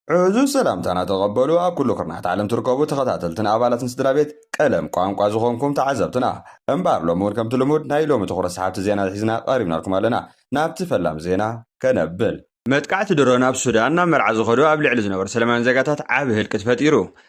ዕዙዝ ሰላምታና ተቐበሉ ኣብ ኩሉ ኩርናዓት ዓለም ትርከቡ ተኸታተልትን ኣባላትን ስድራቤት ቀለም ቋንቋ ዝኾንኩም ተዓዘብትና። እምበኣር ሎሚ ውን ከምቲ ልሙድ ናይ ሎሚ ትኹረት ሰሓብቲ ዜናታት ሒዝና ቀሪብናልኩም ኣለና። ናብቲ ፈላም ዜና ከነብል። መጥቃዕቲ ድሮን ኣብ ሱዳን ናብ መርዓ ዝኸዱ ኣብ ልዕሊ ዝነበሩ ሰለማውያን ዜጋታት ዓቢ ህልቂት ፈጢሩ።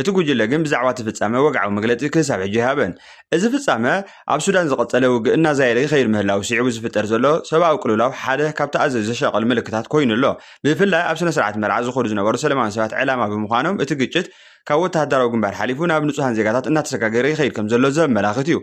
እቲ ጉጅለ ግን ብዛዕባ እቲ ፍጻመ ወግዓዊ መግለጺ ክሳብ ሕጂ ኣይሃበን። እዚ ፍጻመ፣ ኣብ ሱዳን ዝቐጸለ ውግእ እናዛየደ ይኸይድ ምህላዉ ስዒቡ ዝፍጠር ዘሎ ሰብኣዊ ቅልውላው ሓደ ካብቲ ኣዘዩ ዘሻቕል ምልክታት ኮይኑ ኣሎ። ብፍላይ ኣብ ስነ-ስርዓት መርዓ ዝኸዱ ዝነበሩ ሰለማውያን ሰባት ዕላማ ብምዃኖም እቲ ግጭት ካብ ወተሃደራዊ ግንባር ሓሊፉ ናብ ንጹሃን ዜጋታት እናተሰጋገረ ይኸይድ ከምዘሎ ዘመላኽት እዩ።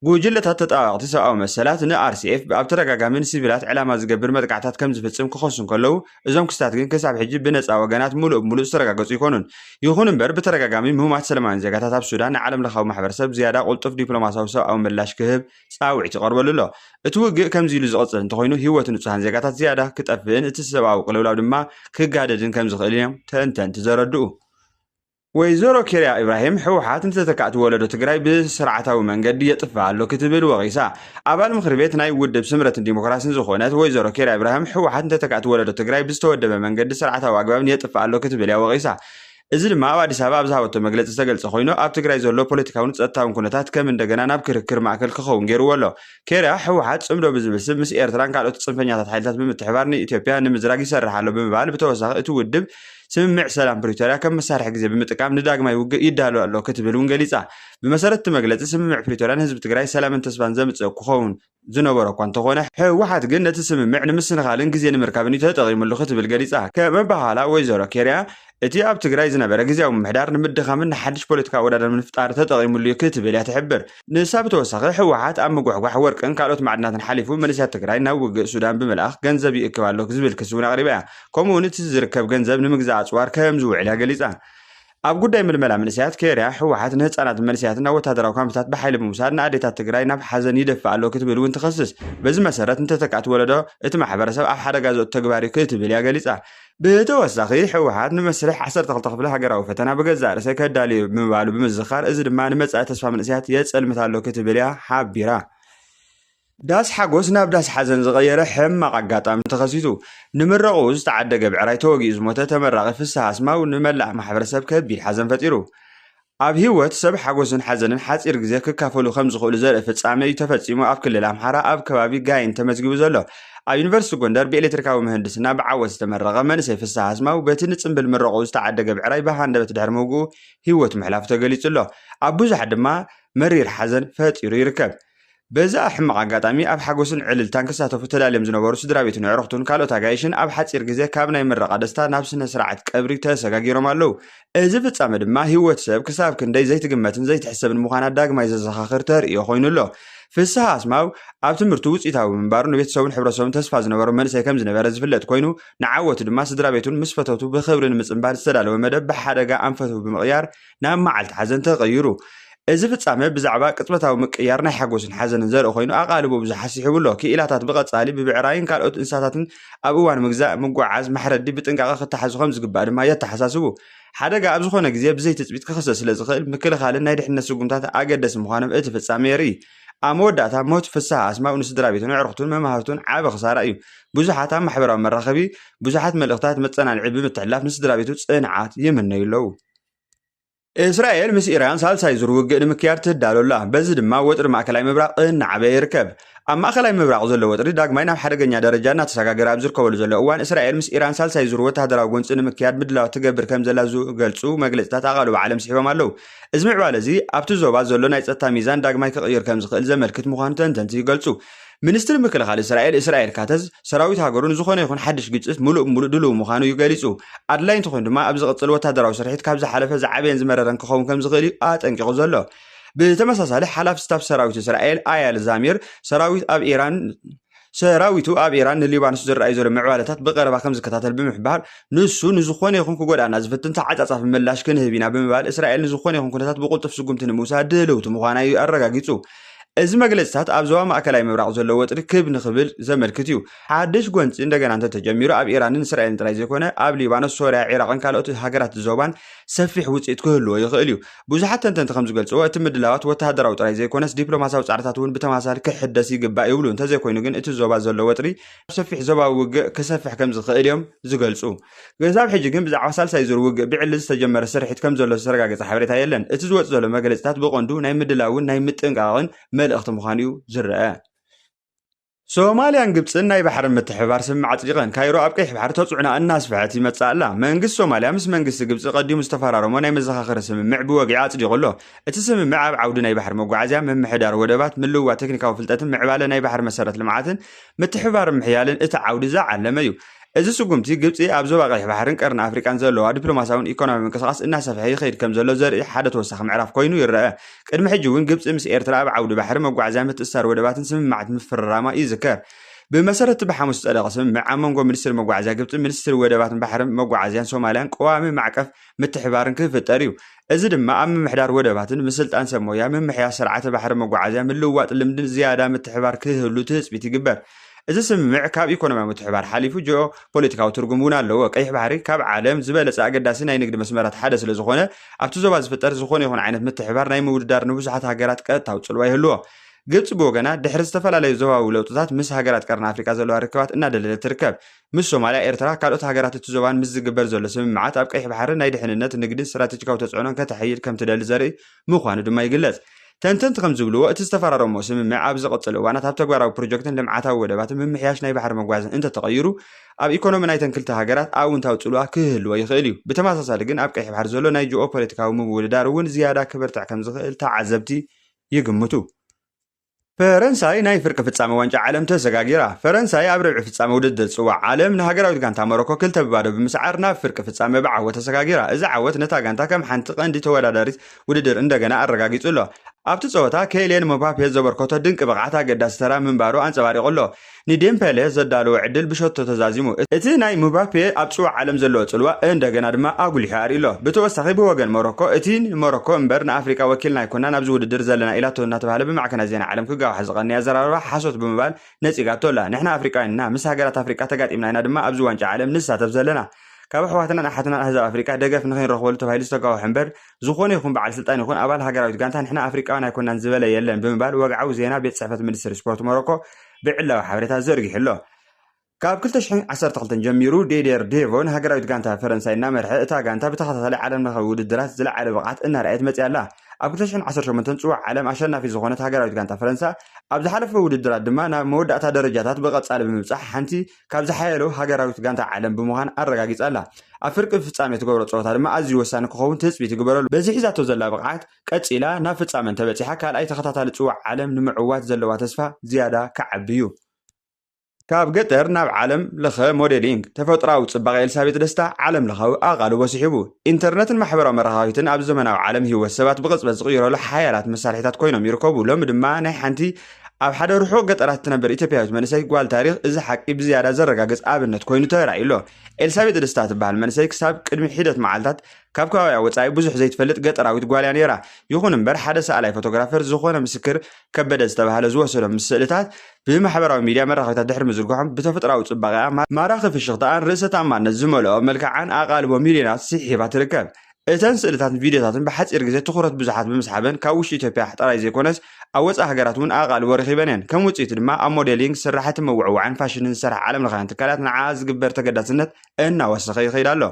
ጉጅለታት ተጣባበቕቲ ሰብኣዊ መሰላት ን RCF ኣብ ተደጋጋሚ ንሲቪላት ዕላማ ዝገብር መጥቃዕትታት ከምዝፍጽም ክኸሱ እንከለዉ፣ እዞም ክስታት ግን ክሳብ ሕጂ ብነጻ ወገናት ምሉእ ብምሉእ ዝተረጋገጹ ኣይኮኑን። ይኹን እምበር ብተደጋጋሚ ምህማት ሰለማውያን ዜጋታት ኣብ ሱዳን ንዓለምለኻዊ ማሕበረሰብ ዝያዳ ቁልጡፍ ዲፕሎማሳዊ ሰብኣዊ ምላሽ ክህብ ጻውዒት ይቐርበሉ ኣሎ። እቲ ውግእ ከምዚ ኢሉ ዝቕጽል እንተኾይኑ ህይወት ንጹሃን ዜጋታት ዝያዳ ክጠፍእን እቲ ሰብኣዊ ቅልውላው ድማ ክጋደድን ከምዝኽእልን እዮም ተንተንቲ ዘረድኡ። ወይዘሮ ኬርያ ኢብራሂም ህወሓት ንተተካእቲ ወለዶ ትግራይ ብስርዓታዊ መንገዲ የጥፍእ ኣሎ ክትብል ወቒሳ። ኣባል ምኽሪ ቤት ናይ ውድብ ስምረትን ዲሞክራሲን ዝኾነት ወይዘሮ ኬርያ ኢብራሂም ህወሓት ንተተካእቲ ወለዶ ትግራይ ብዝተወደበ መንገዲ ስርዓታዊ ኣግባብን የጥፍእ ኣሎ ክትብል እያ ወቒሳ። እዚ ድማ ኣብ ኣዲስ ኣበባ ኣብ ዝሃበቶ መግለፂ ዝተገልፀ ኮይኑ ኣብ ትግራይ ዘሎ ፖለቲካውን ፀጥታውን ኩነታት ከም እንደገና ናብ ክርክር ማእከል ክኸውን ገይርዎ ኣሎ። ኬርያ ህወሓት ፅምዶ ብዝብል ስም ምስ ኤርትራን ካልኦት ፅንፈኛታት ሓይልታት ብምትሕባር ንኢትዮጵያ ንምዝራግ ይሰርሕ ኣሎ ብምባል ብተወሳኺ እቲ ውድብ ስምምዕ ሰላም ፕሪቶርያ ከም መሳርሒ ግዜ ብምጥቃም ንዳግማይ ውግእ ይዳሎ ኣሎ ክትብል እውን ገሊጻ። ብመሰረት እቲ መግለጺ ስምምዕ ፕሪቶርያ ንህዝቢ ትግራይ ሰላምን ተስፋን ዘምጽእ ክኸውን ዝነበሮ እኳ እንተኾነ ህወሓት ግን ነቲ ስምምዕ ንምስንኻልን ግዜ ንምርካብን እዩ ተጠቒምሉ ክትብል ገሊጻ። ከም ኣበሃህላ ወይዘሮ ኬርያ እቲ ኣብ ትግራይ ዝነበረ ግዝያዊ ምምሕዳር ንምድኻምን ንሓድሽ ፖለቲካዊ ኣወዳድባ ንምፍጣር ተጠቒምሉ እዩ ክትብል እያ ትሕብር። ንሳ ብተወሳኺ ህወሓት ኣብ ምጉሕጓሕ ወርቅን ካልኦት ማዕድናትን ሓሊፉ መንእሰያት ትግራይ ናብ ውግእ ሱዳን ብምልኣኽ ገንዘብ ይእክብ ኣሎ ዝብል ክሲ እውን ኣቕሪባ እያ። ከምኡ እውን እቲ ዝርከብ ገንዘብ ንምግዛእ ኣፅዋር ከም ዝውዕል እያ ገሊፃ። ኣብ ጉዳይ ምልመላ መንእሰያት ኬርያ፣ ህወሓት ንህፃናትን መንእሰያትን ናብ ወታደራዊ ካምፕታት ብሓይሊ ብምውሳድ ንኣዴታት ትግራይ ናብ ሓዘን ይደፍእ ኣሎ ክትብል እውን ትኸስስ። በዚ መሰረት ንተተካእቲ ወለዶ እቲ ማሕበረሰብ ኣብ ሓደጋ ዘእቱ ተግባር እዩ ክትብል እያ ገሊፃ። ብተወሳኺ ህወሓት ንመስርሕ ዓሰርተ ክልተ ክፍለ ሃገራዊ ፈተና ብገዛእ ርእሰይ ከዳልዮ ብምባሉ ብምዝኻር እዚ ድማ ንመጻኢ ተስፋ መንእሰያት የጸልምት ኣሎ ክትብል እያ ሓቢራ። ዳስ ሓጎስ ናብ ዳስ ሓዘን ዝቐየረ ሕማቕ ኣጋጣሚ ተኸሲቱ። ንምረቕኡ ዝተዓደገ ብዕራይ ተወጊኡ ዝሞተ ተመራቒ ፍስሃ ኣስማው ንመላእ ማሕበረሰብ ከቢድ ሓዘን ፈጢሩ። ኣብ ህይወት ሰብ ሓጎስን ሓዘንን ሓፂር ግዜ ክካፈሉ ከምዝኽእሉ ዘርኢ ፍፃመ እዩ ተፈፂሙ ኣብ ክልል ኣምሓራ ኣብ ከባቢ ጋይንት ተመዝጊቡ ዘሎ። ኣብ ዩኒቨርሲቲ ጎንደር ብኤሌክትሪካዊ ምህንድስና ብዓወት ዝተመረቐ መንእሰይ ፍስሃ ኣስማው በቲ ንፅምብል ምረቕኡ ዝተዓደገ ብዕራይ ብሃንደበት ድሕሪ ምውግኡ ህይወቱ ምሕላፉ ተገሊፁ ኣሎ። ኣብ ብዙሓት ድማ መሪር ሓዘን ፈጢሩ ይርከብ። በዚ ሕማቕ ኣጋጣሚ ኣብ ሓጎስን ዕልልታን ክሳተፉ ተዳልዮም ዝነበሩ ስድራቤቱን ኣዕሩኽቱን ካልኦት ኣጋይሽን ኣብ ሓጺር ግዜ ካብ ናይ ምረቓ ደስታ ናብ ስነ ስርዓት ቀብሪ ተሰጋጊሮም ኣለዉ። እዚ ፍጻመ ድማ ህይወት ሰብ ክሳብ ክንደይ ዘይትግመትን ዘይትሕሰብን ምዃና ዳግማይ ዘዘኻኽር ተርእዮ ኮይኑ ኣሎ። ፍስሃ ኣስማው ኣብ ትምህርቱ ውጽኢታዊ ብምንባሩ ንቤተሰቡን ሕብረተሰቡን ተስፋ ዝነበሮ መንእሰይ ከም ዝነበረ ዝፍለጥ ኮይኑ ንዓወቱ ድማ ስድራቤቱን ምስ ፈተውቱ ብኽብሪ ንምጽንባል ዝተዳለወ መደብ ብሓደጋ ኣንፈቱ ብምቕያር ናብ መዓልቲ ሓዘን ተቐይሩ። እዚ ፍጻመ ብዛዕባ ቅጽበታዊ ምቅያር ናይ ሓጎስን ሓዘንን ዘርኢ ኮይኑ ኣቓልቦ ብዙሓት ስሒቡ ኣሎ። ክኢላታት ብቐጻሊ ብብዕራይን ካልኦት እንስሳታትን ኣብ እዋን ምግዛእ፣ ምጉዕዓዝ፣ ማሕረዲ ብጥንቃቐ ክተሓዙ ከም ዝግባእ ድማ የተሓሳስቡ። ሓደጋ ኣብ ዝኾነ ግዜ ብዘይ ትጽቢት ክኽሰት ስለ ዝኽእል ምክልኻልን ናይ ድሕነት ስጉምታት ኣገደሲ ምዃኖም እቲ ፍጻመ የርኢ። ኣብ መወዳእታ ሞት ፍስሃ ኣስማው ንስድራቤቱን ኣዕሩኽቱን መማህርቱን ዓቢ ክሳራ እዩ። ብዙሓት ኣብ ማሕበራዊ መራኸቢ ብዙሓት መልእኽታት መጸናንዒ ብምትሕልላፍ ንስድራቤቱ ጽንዓት ይምነዩ ኣለዉ። እስራኤል ምስ ኢራን ሳልሳይ ዙር ውግእ ንምክያድ ትዳሎ ኣላ በዚ ድማ ወጥሪ ማእከላይ ምብራቕ እናዓበየ ይርከብ ኣብ ማእከላይ ምብራቕ ዘሎ ወጥሪ ዳግማይ ናብ ሓደገኛ ደረጃ እናተሰጋገረ ኣብ ዝርከበሉ ዘሎ እዋን እስራኤል ምስ ኢራን ሳልሳይ ዙር ወተሃደራዊ ጎንፂ ንምክያድ ምድላዋት ትገብር ከም ዘላ ዝገልፁ መግለፅታት ኣቓልቦ ዓለም ስሒቦም ኣለው እዚ ምዕባለ እዚ ኣብቲ ዞባ ዘሎ ናይ ፀጥታ ሚዛን ዳግማይ ክቕይር ከም ዝኽእል ዘመልክት ምዃኑ ተንተንቲ ይገልፁ ሚኒስትሪ ምክልኻል እስራኤል እስራኤል ካተዝ፣ ሰራዊት ሃገሩ ንዝኾነ ይኹን ሓድሽ ግጭት ምሉእ ብምሉእ ድሉው ምዃኑ እዩ ገሊጹ። ኣድላዪ እንተኾይኑ ድማ ኣብ ዝቕጽል ወተሃደራዊ ስርሒት ካብ ዝሓለፈ ዝዓበየን ዝመረረን ክኸውን ከምዝኽእል እዩ ኣጠንቂቑ ዘሎ። ብተመሳሳሊ ሓላፊ ስታፍ ሰራዊት እስራኤል ኣያል ዛሚር፣ ሰራዊት ኣብ ኢራን ሰራዊቱ ኣብ ኢራን ንሊባኖስ ዝረኣዩ ዘሎ ምዕባለታት ብቐረባ ከምዝከታተል ብምሕባር፣ ንሱ ንዝኾነ ይኹን ክጎድኣና ዝፍትን ተዓጻጻፊ ምላሽ ክንህብ ኢና ብምባል እስራኤል ንዝኾነ ይኹን ኩነታት ብቕልጡፍ ስጉምቲ ንምውሳድ ድልውቲ ምዃና እዩ ኣረጋጊጹ። እዚ መግለፅታት ኣብ ዞባ ማእከላይ ምብራቕ ዘሎ ወጥሪ ክብ ንኽብል ዘመልክት እዩ። ሓድሽ ጎንፂ እንደገና እንተተጀሚሩ ኣብ ኢራንን እስራኤልን ጥራይ ዘይኮነ ኣብ ሊባኖስ፣ ሶርያ፣ ዒራቕን ካልኦት ሃገራት ዞባን ሰፊሕ ውፅኢት ክህልዎ ይኽእል እዩ። ብዙሓት ተንተንቲ ከምዝገልፅዎ እቲ ምድላዋት ወተሃደራዊ ጥራይ ዘይኮነስ ዲፕሎማስያዊ ፃዕርታት እውን ብተመሳሳሊ ክሕደስ ይግባእ ይብሉ። እንተዘይኮይኑ ግን እቲ ዞባ ዘሎ ወጥሪ ናብ ሰፊሕ ዞባዊ ውግእ ክሰፍሕ ከምዝኽእል እዮም ዝገልፁ። ክሳብ ሕጂ ግን ብዛዕባ ሳልሳይ ዙር ውግእ ብዕሊ ዝተጀመረ ስርሒት ከምዘሎ ዝተረጋገጸ ሓበሬታ የለን። እቲ ዝወጽእ ዘሎ መግለጺታት ብቐንዱ ናይ ምድላውን ናይ ምጥንቃቕን መልእኽቲ ምዃኑ'ዩ ዝርኣ። ሶማልያን ግብጽን ናይ ባሕሪ ምትሕብባር ስምምዕ ኣጽዲቐን፣ ካይሮ ኣብ ቀይሕ ባሕሪ ተጽዕኖኣ እናስፍሐት ይመጽእ ኣላ። መንግስቲ ሶማልያ ምስ መንግስቲ ግብጺ ቀዲሙ ዝተፈራረሞ ናይ መዘኻኸሪ ስምምዕ ብወግዒ ኣጽዲቑ ኣሎ። እቲ ስምምዕ ኣብ ዓውዲ ናይ ባሕሪ መጓዓዝያ፣ ምምሕዳር ወደባት፣ ምልውዋጥ ቴክኒካዊ ፍልጠትን ምዕባለ ናይ ባሕሪ መሰረት ልምዓትን ምትሕብባርን ምሕያልን እቲ ዓውዲ ዝዓለመ'ዩ። እዚ ስጉምቲ፣ ግብጺ ኣብ ዞባ ቀይሕ ባሕርን ቀርኒ ኣፍሪቃን ዘለዋ ዲፕሎማስያውን ኢኮኖምያውን ምንቅስቓስ እናሰፍሐ ይኸይድ ከምዘሎ ዘርኢ ሓደ ተወሳኺ ምዕራፍ ኮይኑ ይረኣ። ቅድሚ ሕጂ'ውን ግብጺ ምስ ኤርትራ ኣብ ዓውዲ ባሕሪ፣ መጓዓዝያን ምትእስሳር ወደባትን ስምምዓት ምፍርራማ ይዝከር። ብመሰረት'ቲ ብሓሙስ ዝጸደቐ ስምምዕ፣ ኣብ መንጎ ሚኒስትሪ መጓዓዝያ ግብጺን ሚኒስትሪ ወደባትን ባሕርን መጓዓዝያን ሶማልያን ቀዋሚ ማዕቀፍ ምትሕብባርን ክፍጠር እዩ። እዚ ድማ ኣብ ምምሕዳር ወደባትን ምስልጣን ሰብ ሞያ፣ ምምሕያሽ ስርዓተ ባሕሪ መጓዓዝያ፣ ምልውዋጥ ልምድን ዝያዳ ምትሕብባር ክህሉ ትህፅቢት ይግበር። እዚ ስምምዕ ካብ ኢኮኖሚያዊ ምትሕብባር ሓሊፉ ጂኦ ፖለቲካዊ ትርጉም እውን ኣለዎ። ቀይሕ ባሕሪ ካብ ዓለም ዝበለፀ ኣገዳሲ ናይ ንግዲ መስመራት ሓደ ስለዝኾነ ኣብቲ ዞባ ዝፍጠር ዝኾነ ይኹን ዓይነት ምትሕብባር ናይ ምውድዳር ንብዙሓት ሃገራት ቀጥታዊ ፅልዋ ይህልዎ። ግብፂ ብወገና ድሕሪ ዝተፈላለዩ ዞባዊ ለውጥታት ምስ ሃገራት ቀርኒ ኣፍሪቃ ዘለዋ ርክባት እናደለደለት ትርከብ። ምስ ሶማልያ፣ ኤርትራ፣ ካልኦት ሃገራት እቲ ዞባን ምስ ዝግበር ዘሎ ስምምዓት ኣብ ቀይሕ ባሕሪ ናይ ድሕንነት፣ ንግድን ስትራተጂካዊ ተጽዕኖን ከተሐይል ከም ትደሊ ዘርኢ ምዃኑ ድማ ይግለጽ። ተንተንቲ ከም ዝብልዎ፣ እቲ ዝተፈራረምዎ ስምምዕ ኣብ ዝቕጽል እዋናት ኣብ ተግባራዊ ፕሮጀክትን ልምዓታዊ ወደባትን ምምሕያሽ ናይ ባሕሪ መጓዝን እንተ ተቐይሩ ኣብ ኢኮኖሚ ናይተን ክልተ ሃገራት ኣውንታዊ ጽልዋ ክህልዎ ይኽእል እዩ። ብተመሳሳሊ ግን ኣብ ቀይሕ ባሕሪ ዘሎ ናይ ጂኦ-ፖለቲካዊ ምውድዳር እውን ዝያዳ ክብርትዕ ከም ዝኽእል ተዓዘብቲ ይግምቱ። ፈረንሳይ ናይ ፍርቂ ፍጻመ ዋንጫ ዓለም ተሰጋጊራ። ፈረንሳይ ኣብ ርብዒ ፍጻመ ውድድር ጽዋዕ ዓለም ንሃገራዊት ጋንታ ሞሮኮ ክልተ ብባዶ ብምስዓር ናብ ፍርቂ ፍጻመ ብዓወት ተሰጋጊራ። እዚ ዓወት ነታ ጋንታ ከም ሓንቲ ቀንዲ ተወዳዳሪት ውድድር እንደገና ኣረጋጊጹ ኣሎ። ኣብቲ ጸወታ ከይልየን ምባፔ ዘበርከቶ ድንቂ ብቕዓት ኣገዳሲ ተራ ምንባሩ ኣንጸባሪቑ ኣሎ። ንዴምፐለ ዘዳለዎ ዕድል ብሸቶ ተዛዚሙ። እቲ ናይ ምባፔ ኣብ ጽዋዕ ዓለም ዘለዎ ጽልዋ እንደገና ድማ ኣጉሊሑ ኣርኢዩ'ሎ። ብተወሳኺ ብወገን ሞሮኮ እቲ ንሞሮኮ እምበር ንኣፍሪቃ ወኪልና ኣይኮናን ኣብዚ ውድድር ዘለና ኢላቶ እናተባህለ ብማዕከናት ዜና ዓለም ክጋዋሕ ዝቐነየ ኣዘራርባ ሓሶት ብምባል ነጺጋቶ ኣላ። ንሕና ኣፍሪቃውያን ኢና፣ ምስ ሃገራት ኣፍሪቃ ተጋጢምና ኢና ድማ ኣብዚ ዋንጫ ዓለም ንሳተፍ ዘለና። ካብ ኣሕዋትናን ኣሓትናን ኣህዛብ ኣፍሪቃ ደገፍ ንኸይንረኽበሉ ተባሂሉ ዝተጋወሐ እምበር ዝኾነ ይኹን በዓል ስልጣን ይኹን ኣባል ሃገራዊት ጋንታ ንሕና ኣፍሪቃውያን ኣይኮናን ዝበለ የለን ብምባል ወግዓዊ ዜና ቤት ጽሕፈት ሚኒስትሪ ስፖርት ሞሮኮ ብዕላዊ ሓበሬታ ዘርጊሑ ኣሎ። ካብ ክልተ ሽሕን ዓሰርተ ክልተን ጀሚሩ ዴዴር ዴቮ ንሃገራዊት ጋንታ ፈረንሳይ እናመርሐ እታ ጋንታ ብተኸታታሊ ዓለምለኻዊ ውድድራት ዝለዓለ ብቕዓት እናርኣየት መፂኣ ኣላ። ኣብ ክልተ ሽሕን ዓሰርተ ሸሞንተን ፅዋዕ ዓለም ኣሸናፊት ዝኾነት ሃገራዊት ጋንታ ፈረንሳ ኣብ ዝሓለፈ ውድድራት ድማ ናብ መወዳእታ ደረጃታት ብቐፃሊ ብምብፃሕ ሓንቲ ካብ ዝሓየሉ ሃገራዊት ጋንታ ዓለም ብምዃን ኣረጋጊፃ ኣላ። ኣብ ፍርቂ ፍፃሜ ትገብሮ ፀወታ ድማ ኣዝዩ ወሳኒ ክኸውን ትፅቢት ይግበረሉ። በዚ ሒዛቶ ዘላ ብቕዓት ቀጺላ ናብ ፍጻመ እንተበጺሓ ካልኣይ ተኸታታሊ ጽዋዕ ዓለም ንምዕዋት ዘለዋ ተስፋ ዝያዳ ክዓቢ'ዩ። ካብ ገጠር ናብ ዓለም ለኸ ሞዴሊንግ፣ ተፈጥሮኣዊ ጽባቐ ኤልሳቤጥ ደስታ ዓለም ለኻዊ ኣቓልቦ ስሒቡ። ኢንተርነትን ማሕበራዊ መራኸቢትን ኣብዚ ዘመናዊ ዓለም ህይወት ሰባት ብቕጽበት ዝቕይረሉ ሓያላት መሳርሒታት ኮይኖም ይርከቡ። ሎሚ ድማ ናይ ሓንቲ ኣብ ሓደ ርሑቕ ገጠራት እትነብር ኢትዮጵያዊት መንእሰይ ጓል ታሪኽ እዚ ሓቂ ብዝያዳ ዘረጋግጽ ኣብነት ኮይኑ ተራእዩ ኣሎ። ኤልሳቤጥ ደስታ ትበሃል መንእሰይ ክሳብ ቅድሚ ሒደት መዓልታት ካብ ከባቢኣ ወጻኢ ብዙሕ ዘይትፈልጥ ገጠራዊት ጓል እያ ነይራ። ይኹን እምበር ሓደ ሰኣላይ ፎቶግራፈር ዝኾነ ምስክር ከበደ ዝተባህለ ዝወሰዶም ምስ ስእልታት ብማሕበራዊ ሚድያ መራኸቢታት ድሕሪ ምዝርግሖም ብተፈጥራዊ ጽባቐኣ፣ ማራኺ ፍሽኽታኣን ርእሰ ተኣማንነት ዝመልኦ መልክዓን ኣቓልቦ ሚልዮናት ስሒባ ትርከብ። እተን ስእልታትን ቪድዮታትን ብሓጺር ግዜ ትኹረት ብዙሓት ብምስሓበን ካብ ውሽጢ ኢትዮጵያ ጥራይ ዘይኮነስ ኣብ ወጻኢ ሃገራት እውን ኣቓልቦ ረኺበን እየን። ከም ውጽኢቱ ድማ ኣብ ሞዴሊንግ፣ ስራሕቲ ምውዕዋዕን ፋሽንን ዝሰርሓ ዓለምለኻውያን ትካላት ንዓኣ ዝግበር ተገዳስነት እናወሰኸ ይኸይድ ኣሎ።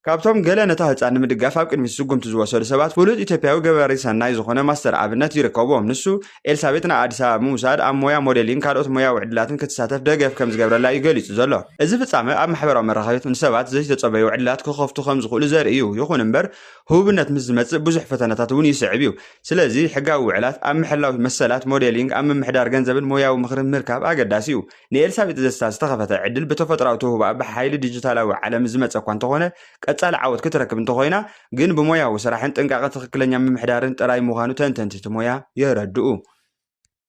ካብቶም ገለ ነታ ህጻን ንምድጋፍ ኣብ ቅድሚት ስጉምቲ ዝወሰዱ ሰባት ፍሉጥ ኢትዮጵያዊ ገባሪ ሰናይ ዝኾነ ማስተር ኣብነት ይርከቦም። ንሱ፣ ኤልሳቤጥ ንኣዲስ ኣበባ ብምውሳድ ኣብ ሞያ ሞዴሊንግ ካልኦት ሞያዊ ዕድላትን ክትሳተፍ ደገፍ ከምዝገብረላ እዩ ገሊጹ ዘሎ። እዚ ፍጻመ ኣብ ማሕበራዊ መራኸቢታት ንሰባት ዘይተጸበዩ ዕድላት ክኸፍቱ ከምዝኽእሉ ዘርኢ እዩ። ይኹን እምበር ህቡብነት ምስ ዝመጽእ ብዙሕ ፈተነታት እውን ይስዕብ እዩ። ስለዚ ሕጋዊ ውዕላት ኣብ ምሕላው መሰላት፣ ሞዴሊንግ፣ ኣብ ምምሕዳር ገንዘብን ሞያዊ ምኽርን ምርካብ ኣገዳሲ እዩ። ንኤልሳቤጥ ዘስታ ዝተኸፈተ ዕድል ብተፈጥራዊ ተውህቦኣ ብሓይሊ ዲጂታላዊ ዓለም ዝመጸ እኳ እንተኾነ ቀጻሊ ዓወት ክትረክብ እንተኾይና ግን ብሞያዊ ስራሕን ጥንቃቐ ትኽክለኛ ምምሕዳርን ጥራይ ምዃኑ ተንተንቲ እቲ ሞያ የረድኡ።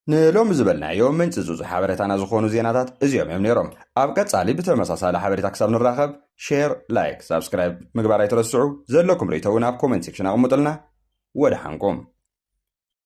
ንሎሚ ዝበልናዮ ምንጽጹጽ ሓበሬታና ዝኾኑ ዜናታት እዚኦም እዮም ነይሮም። ኣብ ቀጻሊ ብተመሳሳሊ ሓበሬታ ክሳብ ንራኸብ ሼር፣ ላይክ፣ ሳብስክራይብ ምግባር ኣይትረስዑ። ዘለኩም ርእይቶ እውን ኣብ ኮሜንት ሴክሽን ኣቕምጡልና። ወደሓንኩም።